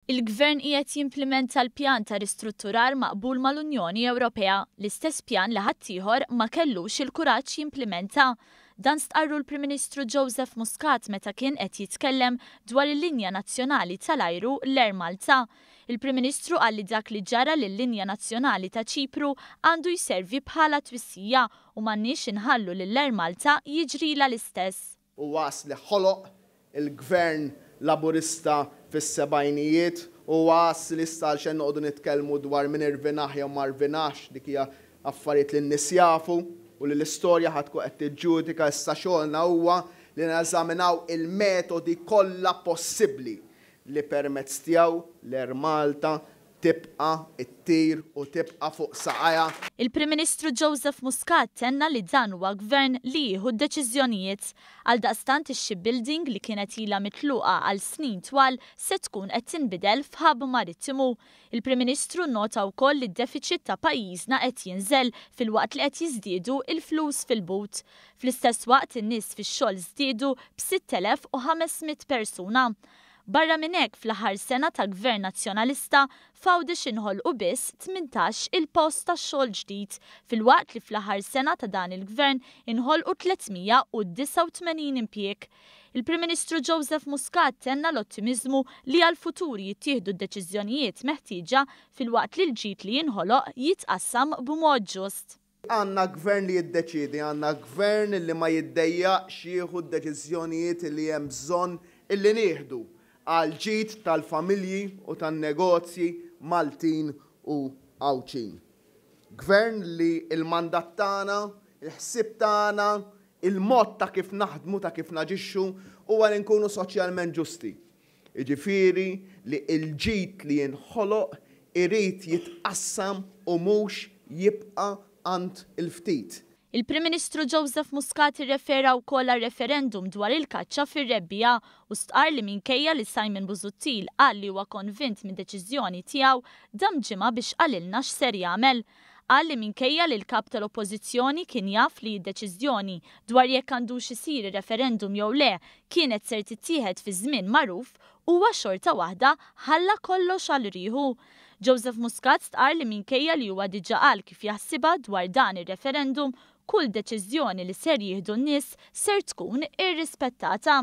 Il-Gvern qiegħed jimplimenta l-pjan ta' ristrutturar maqbul mal-Unjoni Ewropea, l-istess pjan li ħaddieħor ma kellux il-kuraġġ jimplimenta. Dan stqarru l-Prim Ministru Joseph Muscat meta kien qed jitkellem dwar il-linja nazzjonali tal-ajru l-Air Malta. Il-Prim Ministru qal li dak li ġara lil-linja nazzjonali ta' Ċipru għandu jservi bħala twissija u m'għandniex inħallu lill-Air Malta jiġrilha l-istess. u għas li ħoloq il-Gvern Laburista fis-sebgħinijiet u għas li issa għalxejn noqogħdu nitkellmu dwar min irvinaħ jew ma rvinaħx, dik hija affarijiet li n-nies jafu u li l-istorja ħa tkun qed tiġġudika, issa xogħolna huwa li neżaminaw il-metodi kollha possibbli li permezz tiegħu l-Air Malta tibqa' ttir u tibqa' fuq saqajha. Il-Prim Ministru Joseph Muscat tenna li dan huwa Gvern li jieħu d-deċiżjonijiet. Għaldaqstant ix-shipbuilding li kienet ilha mitluqa għal snin twal se tkun qed tinbidel f'hub marittimu. Il-Prim Ministru nnota wkoll li d-defiċit ta' pajjiżna qed jinżel filwaqt li qed jiżdiedu l-flus fil-but. Fl-istess waqt in-nies fix-xogħol żdiedu b' 6,500 persuna. Barra minn hekk fl-aħħar sena ta' Gvern Nazzjonalista f'Għawdex inħolqu biss tmintax il post ta' xogħol ġdid filwaqt li fl-aħħar sena ta' dan il-Gvern inħolqu 389 impjieg. Il-Prim Ministru Joseph Muscat tenna l-ottimiżmu li għall-futur jittieħdu d-deċiżjonijiet meħtieġa filwaqt li l-ġid li jinħoloq jitqassam b'mod ġust. Għandna Gvern li jiddeċiedi, għandna Gvern li ma jiddejjaqx jieħu d-deċiżjonijiet li hemm bżonn li nieħdu għall-ġid tal-familji u tan-negozji Maltin u Għawdxin. Gvern li l-mandat tagħna, il-ħsieb tagħna, il-mod ta' kif naħdmu, ta' kif naġixxu huwa li nkunu soċjalment ġusti. jiġifieri li l-ġid li jinħoloq irid jitqassam u mhux jibqa' għand il-ftit. Il-Prim Ministru Joseph Muscat irrefera wkoll għar-referendum dwar il-kaċċa fir-Rebbiegħa u stqarr li minkejja li Simon Busuttil qal li huwa konvint mid-deċiżjoni tiegħu, dam ġimgħa biex qalilna x'ser jagħmel. qal li minkejja li l-Kap tal-Oppożizzjoni kien jaf li d-deċiżjoni dwar jekk għandux isir ir-referendum jew le kienet ser tittieħed fi żmien magħruf, huwa xorta waħda ħalla kollox għal riħu. Joseph Muscat stqarr li minkejja li huwa diġà qal kif jaħsibha dwar dan ir-referendum, kull deċiżjoni li ser jieħdu n-nies ser tkun irrispettata.